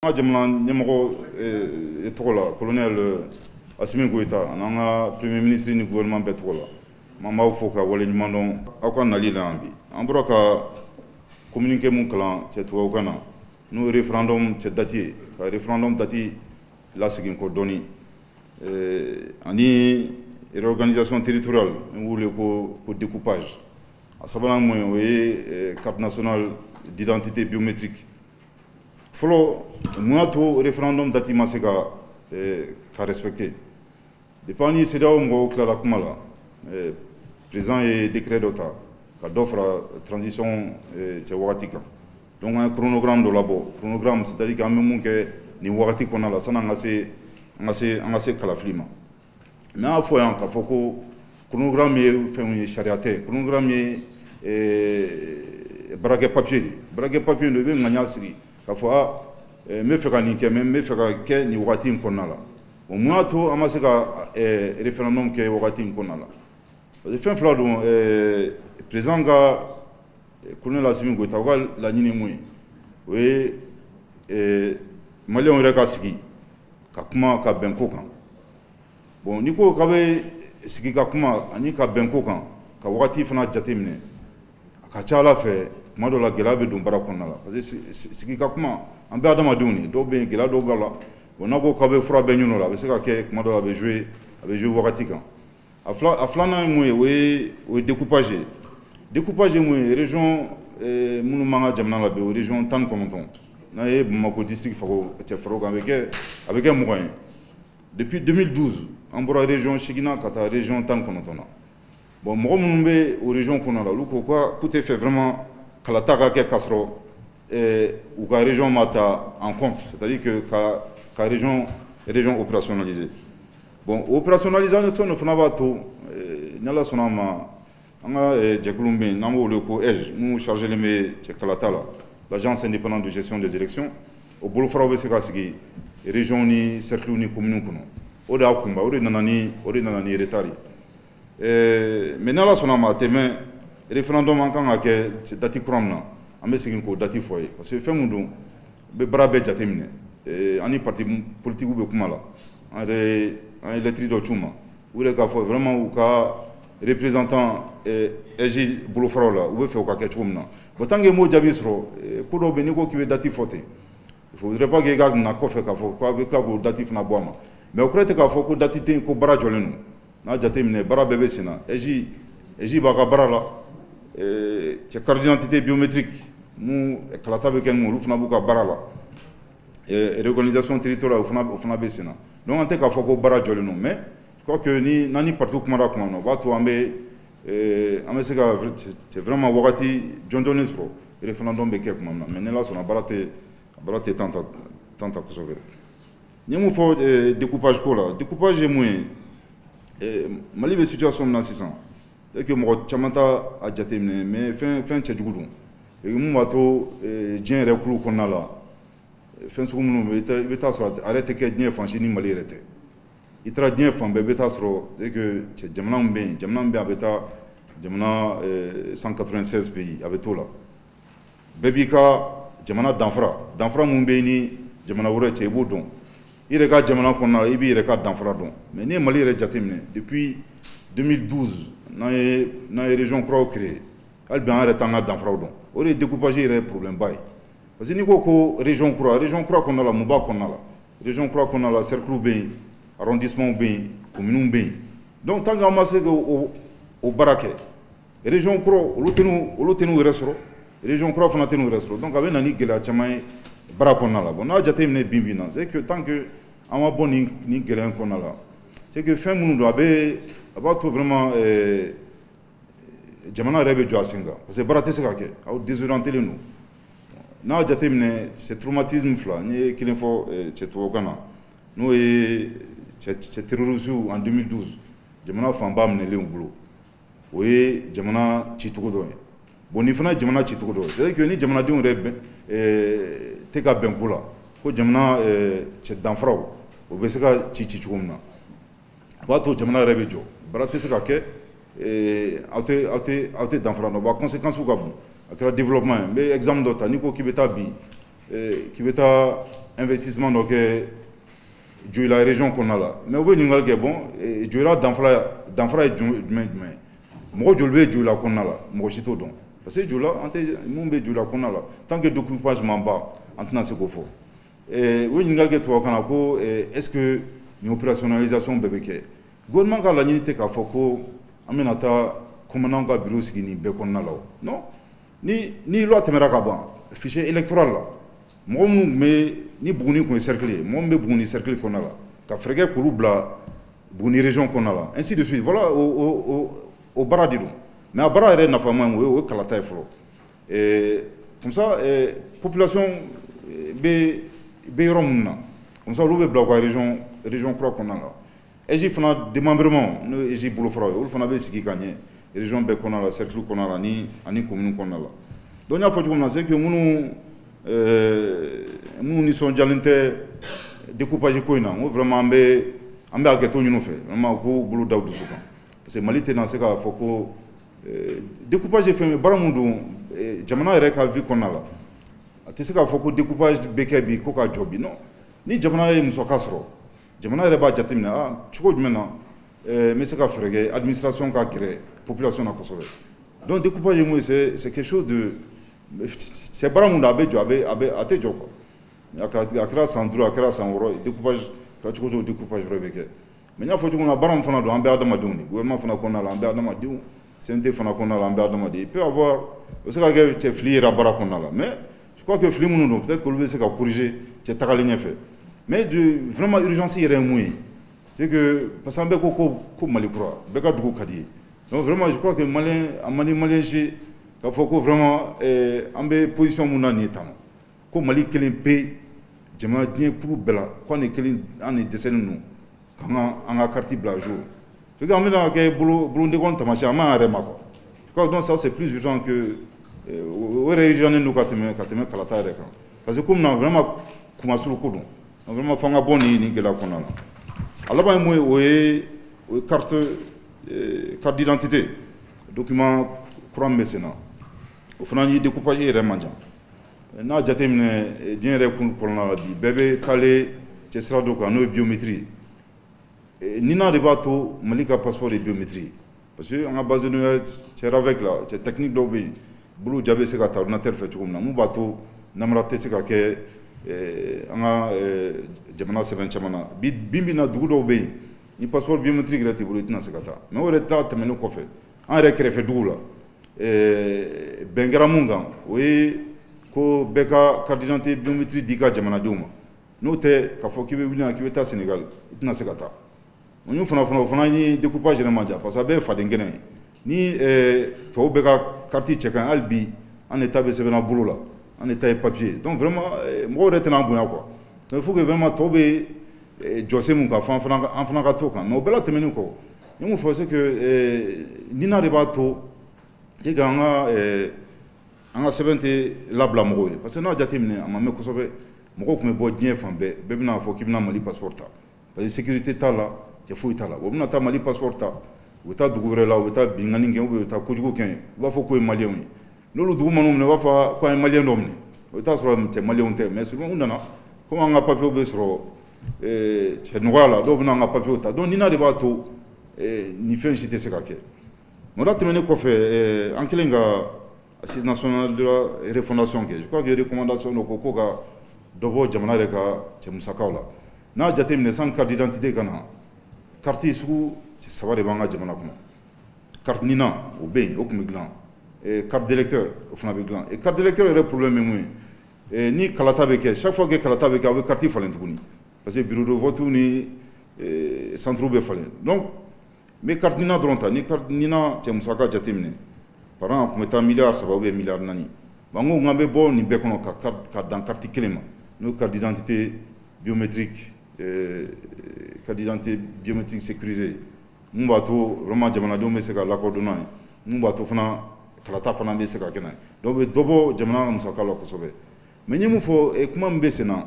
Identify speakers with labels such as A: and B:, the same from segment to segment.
A: an ka jamana ɲɛmɔgɔ eh, tɔgɔ la kolonɛl eh, asimi goyita an'an ka premier ministre ni gouvernement bɛɛ tɔgɔ la m'an b'aw fo ka wale ɲuman dɔn aw ka nali la yan bi an bɔra ka communiqué mun kalan cɛ tubabukan na n'o ye référendum cɛ dati ye ka référendum dati lasegin kɔ dɔɔni eh, ani réorganisation territoriale n'u b'o wele ko découpage a sabanan mun ye o ye carte nationale d'identité biométrique fɔlɔ mun y'a to referendum dati ma se ka eh, ka respecter depuis an ni CEDEAO mɔgɔw tilala kuma la eh, président ye décret dɔ ta ka dɔ fara transition eh, cɛ wagati kan donc an ye chronogramme dɔ labɔ chronogramme c'est à dire k'an bɛ mun kɛ nin wagati kɔnɔna la san'an ka se an ka se an ka se kalafili ma Mais n y'a fɔ yan ka fɔ ko chronogramme ye fɛn ye sariya tɛ chronogramme ye eh, baarakɛ papier de baarakɛ papier don i bɛ ŋaniya siri ka fɔ a eh, n bɛ fɛ ka nin kɛ mais n bɛ fɛ ka kɛ nin wagati in kɔnɔna la o mun y'a to an ma se ka eh, referendum kɛ wagati in kɔnɔna la parce que fɛn fila don président ka kolonɛl asimi goyita u ka laɲini mun ye o ye maliyɛnw yɛrɛ ka sigi ka kuma ka bɛn ko kan bon n'i ko k'a bɛ sigi ka kuma ani ka bɛn ko kan ka wagati fana jateminɛ a ka ca a la fɛ tuma dɔ la gɛlɛya bɛ don baara kɔnɔna la parce que sigi ka kuma an bɛ adamadenw de dɔw bɛ yen gɛlɛya dɔw b'a la bon n'a ko k'a bɛ fura bɛɛ ɲini o la a bɛ se ka kɛ tuma dɔ la a bɛ jouer a bɛ jouer wagati kan a filanan ye mun ye o ye o ye découpage ye découpage ye mun ye région eh, minnu b'an ka jamana la bi o région tan ni kɔnɔntɔn n'a ye bamakɔ district far'o cɛ far'o kan a bɛ kɛ a bɛ kɛ mugan ye depuis 2012 an bɔra région seegin na ka taa région tan ni kɔnɔntɔn na bon mɔgɔ minnu bɛ o région kɔnɔ la olu ko ko k'u tɛ fɛ vraiment kalata ka kɛ k'a sɔrɔ eh, u ka région ma ta en compte c'est à dire que ka ka région région opérationnaliser bon o opérationnalisation de fana b'a to eh, ni ala sɔnna a ma an ka eh, jɛkulu min bɛ yen n'an b'o wele ko AIGE n'u chargelen bɛ cɛ kalata la l'agence indépendante de gestion des élections o bolofaraw bɛ se ka sigi région ni cercles ni communes kɔnɔ o de y'a kunba o de nana ni o de nana ni retard ye Ɛɛ mais ni Ala sɔnna a ma a tɛ mɛn referendum an kan ka kɛ date kura min na, an bɛ segin k'o date fɔ aw ye parce que fɛn min don, n bɛ baara bɛɛ jate minɛ, ɛɛ an ni parti politique bɛ kuma la, an yɛrɛ an ye lettre dɔ ci u ma, u yɛrɛ k'a fɔ vraiment u ka représentant ɛ AIGE bolofaraw la, u bɛ fɛ o ka kɛ cogo min na bon tant que i m'o jaabi sɔrɔ, ko dɔw bɛ yen n'i ko k'i bɛ date fɔ ten, il faudrait pas que i ka na kɔfɛ k'a fɔ k'a bɛ tila k'o date fana bɔ a ma mais o kɔrɔ tɛ k'a fɔ ko date tɛ yen ko baara jɔlen don. n'a jate minɛ baara bɛɛ bɛ sen na AIGE AIGE b'a ka baara la cɛ carte d'identité biométrique min kalata bɛ kɛ ninnu olu fana b'u ka baara la réorganisation territoriale o fana o fana bɛ sen na donc an tɛ k'a fɔ ko baara jɔlen don mais je crois que ni n'an ni partiw kumara tuma min na o b'a to an bɛ an bɛ se ka cɛ vraiment wagati jɔnjɔnnen sɔrɔ référendum bɛ kɛ tuma min na mais ni Ala sɔnna baara tɛ baara tɛ temps ta temps ta kosɛbɛ. N ye mun fɔ eh, découpage ko la découpage ye mun ye eh, Mali bɛ situation min na sisan c'est que mɔgɔ caman t'a a jateminɛ mais fɛn fɛn cɛjugu don et mun b'a to eh, diɲɛ yɛrɛ kulu kɔnɔna la fɛn sugu minnu bɛ i bɛ taa sɔrɔ a yɛrɛ tɛ kɛ diɲɛ fan si ni Mali yɛrɛ tɛ i taara diɲɛ fan bɛɛ i bɛ taa sɔrɔ c'est que cɛ jamana min bɛ yen jamana min bɛ yen a bɛ taa jamana 196 pays a bɛ t'o la. bɛɛ b'i ka jamana danfara danfara min b'i ni jamana wɛrɛ cɛ i b'o dɔn i yɛrɛ ka jamana kɔnɔna i b'i yɛrɛ ka danfara dɔn mais ni Mali yɛrɛ jateminɛ depuis 2012 n'an ye n'an ye région kuraw créer hali bi an yɛrɛ t'an ka danfaraw dɔn o de ye découpage yɛrɛ ye problème ba ye parce que n'i ko ko région kura région kura kɔnɔna la mun b'a kɔnɔna la région kura kɔnɔna la cerclew bɛ yen arrondissementw bɛ yen communew bɛ yen donc tant que an ma se k'o o baara kɛ Région kuraw olu tɛn'u olu tɛn'u yɛrɛ sɔrɔ région kuraw fana tɛn'u yɛrɛ sɔrɔ donc a bɛ na ni gɛlɛya caman ye baara kɔnɔna la bon n'a jateminɛ bi bi in na c'est que tant que an ma bɔ nin nin gɛlɛya in kɔnɔna la c'est que fɛn minnu don a bɛ a b'a to vraiment euh, jamana yɛrɛ bɛ jɔ a sen kan parce que baara tɛ se ka kɛ aw désorientélen don n'a jateminɛ cɛ traumatisme fila n ye kelen fɔ euh, cɛ tubabukan na n'o ye cɛ cɛ terroristew en 2012 jamana fanba minɛlen u bolo o ye jamana cicogo dɔ ye bon nin fana jamana cicogo dɔ c'est que ni jamanadenw yɛrɛ bɛn eh, tɛ ka bɛn ko la ko jamana eh, cɛ danfaraw o bɛ se ka ci ci cogo min na a b'a to jamana yɛrɛ bɛ jɔ baara tɛ se ka kɛ eh, aw tɛ aw tɛ aw tɛ danfara dɔn wa conséquencew ka bon a kɛra développement ye n bɛ exemple dɔ ta n'i ko k'i bɛ taa bi k'i bɛ taa investissement dɔ kɛ joyila région kɔnɔna la mais u bɛ ɲininkali kɛ bon eh, joyila danfara danfara ye jumɛn jumɛn ye mɔgɔ joli bɛ joyila kɔnɔna la mɔgɔ si t'o dɔn parce que joyila an tɛ mun bɛ joyila kɔnɔna la tant que découpage ma ban an tɛna se k'o fɔ eh, u ye ɲininkali kɛ tubabukan na ko eh, est ce que nin opérationnalisation bɛɛ bɛ kɛ gouvernement ka laɲini tɛ k'a fɔ ko an bɛna taa commandantw ka bureau sigi nin bɛɛ kɔnɔna la o non ni ni loi tɛmɛra ka ban fichier électoral la mɔgɔ minnu tun bɛ ni buguni tun ye cercle ye mɔgɔ minnu bɛ buguni cercle kɔnɔna la ka fɛɛrɛ kɛ k'olu bila buguni région kɔnɔna la ainsi de suite voilà o o o baara de don mais a baara yɛrɛ nafama ye mun ye o ye kalata ye fɔlɔ ɛɛ comme ça ɛɛ population bɛ bɛ yɔrɔ minnu na comme ça olu bɛ bila u ka région région kura kɔnɔna la. AIGE fana démembrement n'o ye AIGE bolofaraw ye olu fana bɛ sigi ka ɲɛ région bɛɛ kɔnɔna la cercle kɔnɔna la ni ani commune kɔnɔna la donc n y'a fɔ cogo min na c'est que minnu euh, minnu nisɔndiyalen tɛ découpage ko in na n ko vraiment an bɛ an bɛ hakɛto ɲini u fɛ vraiment u k'u bolo da u dusu kan parce que Mali tɛna se k'a fɔ ko euh, découpage ye fɛn ye baara min don euh, jamana yɛrɛ ka vie kɔnɔna la a tɛ se k'a fɔ ko découpage bɛ kɛ bi ko ka jɔ bi non ni jamana ye musaka sɔrɔ jamana yɛrɛ b'a jateminɛ a ah, cogo jumɛn na eh, n bɛ se ka fɛɛrɛ kɛ administration ka gɛrɛ population na kosɛbɛ donc découpage ye mun ye c'est c'est quelque chose de c'est baara mun don a bɛ jɔ a bɛ a bɛ a tɛ jɔ quoi a kɛra san duuru a kɛra san wɔɔrɔ découpage kɛra cogo cogo découpage wɛrɛ bɛ kɛ mais n y'a fɔ cogo min na baara min fana don an bɛ adamadenw de gouvernement fana kɔnɔna la an bɛ adamadenw CNT fana kɔnɔna la an bɛ adamaden il peut avoir o bɛ se ka kɛ cɛ fili yera baara kɔnɔna la mais je crois que fili minnu don peut-être k'olu bɛ se ka corriger cɛ tagalen ɲɛfɛ mais de vraiment urgence yɛrɛ ye mun ye c'est que parce que an bɛɛ ko ko ko Mali kura bɛɛ ka dugu ka di i ye donc vraiment je crois que malien a man di malien si k'a fɔ ko vraiment eh, an bɛ position mun na nin ye tan ko Mali kelen pe jamana diɲɛ kuru bɛɛ la ko an de kelen an de dɛsɛlen don k'an ka an ka kariti bila à jour parce que an bɛna kɛ bolondekɔn taamasiyɛn an m'an yɛrɛ ma quoi je crois donc ça c'est plus urgent que euh, o yɛrɛ urgent don ka tɛmɛ ka tɛmɛ kalata yɛrɛ kan parce que komi na vraiment kunmasuuli ko don vraiment f'an ka bɔ nin nin gɛlɛya kɔnɔna la a laban ye mun ye o ye o ye carte euh, carte d'identité document kura min bɛ sen na o fana ni découpage yɛrɛ man jan n'a jateminɛ eh, diɲɛ yɛrɛ kun kɔnɔna la bi bɛɛ bɛ taalen cɛ sira dɔ kan n'o ye biométrie eh, NINA de b'a to Mali ka passeport ye biométrie parce que an ka base de données cɛ RAVEC la cɛ technique dɔw bɛ yen bolo ja bɛ se ka ta ordinateur fɛ cogo min na mun b'a to namara tɛ se ka kɛ eh, an ka jamana sɛbɛn caman na bi bi in na dugu dɔw bɛ yen ni passeport biométrique yɛrɛ t'i bolo i tɛna se ka taa mais o yɛrɛ ta tɛmɛnen kɔfɛ an yɛrɛ kɛrɛfɛ dugu la eh, bɛn kɛra mun kan o ye ko bɛɛ ka carte d'identité biométrie di ka jamanadenw ma n'o tɛ k'a fɔ k'i bɛ wuli yan k'i bɛ taa Sénégal i tɛna se ka taa o y'u fana fana o fana ni découpage yɛrɛ man jan parce que a bɛɛ ye fadenkɛnɛ ye ni eh, tɔw bɛɛ ka carte cɛ ka ɲi hali bi an de ta bɛ sɛbɛnna bolo la an de ta ye papier donc vraiment eh, mɔgɔw yɛrɛ tɛna an bonya quoi il faut que vraiment tɔw bɛ eh, jɔsen mun kan fo an fana an fana ka t'o kan mais o bɛɛ la tɛmɛnen kɔ n ye mun fɔ c'est que eh, NINA de b'a to e ka an ka eh, an ka sɛbɛn tɛ labila mɔgɔw ye parce que n'a jateminɛ a ma mɛn kosɛbɛ mɔgɔw tun bɛ bɔ diɲɛ fan bɛɛ bɛɛ bɛ n'a fɔ k'i bɛna Mali passeport ta parce que sécurité t'a la cɛ foyi t'a la u bɛna taa Mali passeport ta u bɛ taa dugu wɛrɛ la u bɛ taa binkanni kɛ u bɛ taa kojugu kɛ u b'a fɔ k'o ye maliyɛnw ye n'olu dugu man'u minɛ u b'a fɔ ko an ye maliyɛn dɔ minɛ o t'a sɔrɔ cɛ maliyɛnw tɛ mais souvent u nana komi an ka papiyew bɛ sɔrɔ eh, cɛ nɔgɔya la dɔw bɛna an ka papiyew ta donc nina de b'a to eh, nin fɛn si tɛ se ka kɛ o la tɛmɛnen kɔfɛ eh, an kɛlen ka assise nationale de la refondation kɛ je crois que recommandation dɔ ko ko ka dɔ bɔ jamana yɛrɛ ka cɛ musakaw la n'a jateminɛ san carte d'identité ka na carte sugu saba de b'an ka jamana kɔnɔ Karina o bɛ yen o tun bɛ dila karidkɛ o fana bɛ dila karidkɛ yɛrɛ porobi min ye ni kalata bɛ kɛ safɔ kɛ kalata bɛ kɛ a bɛ kati falen tuguni parce que bidonfɔt ni santuuru bɛ falen dɔn n karina dɔrɔn ta ni karina cɛ musa ka jate minɛ pa tun bɛ taa mi saba bɛ mi naani ko nkaan bɛ bɔ nin bɛɛ kɔnɔ ka dan kati kelen ma n'o kadidte bibetiri kadidte bibetiri se kirie ye mun b'a to vraiment jamanadenw bɛ se ka lakodɔn n'a ye mun b'a to fana kalata fana bɛ se ka kɛ n'a ye donc o bɛ dɔ bɔ jamana ka musaka la kosɛbɛ mais n ye mun fɔ eh, kuma min bɛ sen na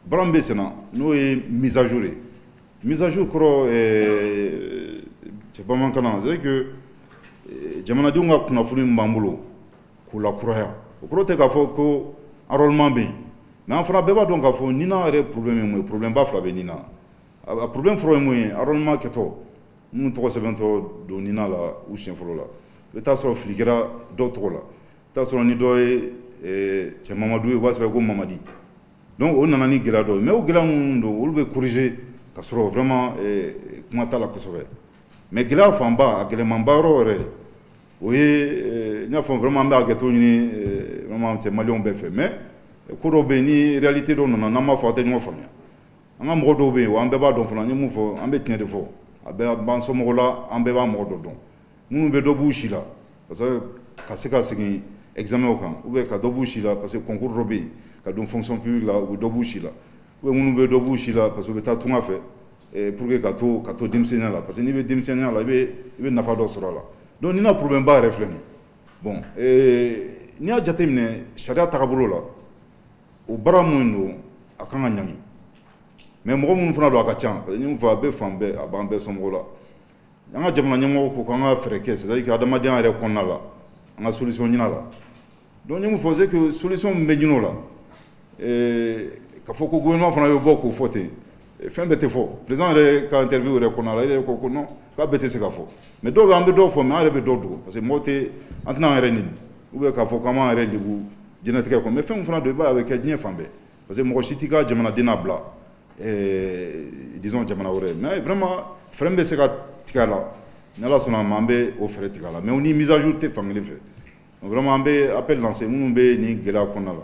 A: baara min bɛ sen na n'o ye mise à jour ye mise à jour kɔrɔ eh, cɛ bamanankan na c'est que eh, jamanadenw ka kunnafoni min b'an bolo k'u lakuraya o kɔrɔ tɛ k'a fɔ ko enrôlement bɛ yen mais an fana bɛɛ b'a dɔn k'a fɔ nina yɛrɛ problème ye mun ye problème ba fila bɛ nina a problème fɔlɔ ye mun ye enrôlement kɛtɔ minnu tɔgɔ sɛbɛntɔ don nina la u siɲɛ fɔlɔ la i bɛ taa sɔrɔ fili kɛra dɔw tɔgɔ la i t'a sɔrɔ ni dɔ ye eh, cɛ mamadu ye u b'a sɛbɛn ko mamadi donc o nana ni gɛlɛya dɔ ye mais o gɛlɛya minnu don olu bɛ corriger ka sɔrɔ vraiment eh, kuma t'a la kosɛbɛ mais gɛlɛya fanba a gɛlɛmanba yɔrɔ yɛrɛ o ye eh, n y'a fɔ vraiment an bɛ hakɛto ɲini vraiment cɛ maliyɛnw bɛɛ fɛ mais ko dɔw bɛ yen ni réalité dɔ nana n'an m'a fɔ an tɛ ɲɔgɔn faamuya an ka mɔgɔ dɔw bɛ yen wa an bɛɛ b'a dɔn fana an ye mun fɔ an bɛ tiɲɛ de fɔ a bɛɛ b'an somɔgɔw la an bɛɛ b'a mɔgɔ dɔ dɔn minnu bɛ dɔ b'u si la parce que ka se ka segin examen kan ou bien ka dɔ b'u si la parce que concours dɔ bɛ yen ka don fonction publique la u bɛ dɔ b'u si la ou bien minnu bɛ dɔ b'u si la parce que u bɛ taa tunga fɛ eh, pour que ka to ka to denmisɛnninya la parce que n'i bɛ denmisɛnninya la i bɛ i bɛ nafa dɔ sɔrɔ a la donc nina problème ba yɛrɛ filɛ nin bon eh, n'i y'a jateminɛ sariya tagabolo la o baara min don a kan ka ɲangi mais mɔgɔ minnu fana don a ka ca parce que n ye mun fɔ a bɛ fan bɛɛ a b'an bɛɛ somɔgɔw la an ka jamana ɲɛmɔgɔ ko k'an ka fɛɛrɛ kɛ c'est à dire que adamadenya yɛrɛ kɔnɔna la an ka solution ɲin'a la donc n ye mun fɔ c'est que solution min bɛ ɲin'o la k'a fɔ ko gouvernement fana bɛ bɔ k'o fɔ ten fɛn bɛɛ tɛ fɔ président yɛrɛ ka interview yɛrɛ kɔnɔna la yɛrɛ ko non k'a bɛɛ tɛ se ka fɔ mais dɔw bɛ an bɛ dɔw fɔ mais an yɛrɛ bɛ dɔw dogo parce que mɔgɔ tɛ an tɛna an yɛrɛ nɛni ou bien k'a fɔ k'an b'an yɛrɛ lebu diɲɛlatigɛ kɔnɔ mais fɛn fana don i b'a ye a bɛ kɛ diɲɛ fan bɛɛ parce que mɔgɔ si t'i ka jamanaden n'a bila disons jamana wɛrɛ mais vraiment fɛɛrɛ min bɛ se ka tigɛ a la ni ala sɔnna a ma an bɛ o fɛɛrɛ tigɛ a la mais ni mise à jour tɛ fan kelen fɛ an bɛ appel lancer minnu bɛ nin gɛlɛya kɔnɔna la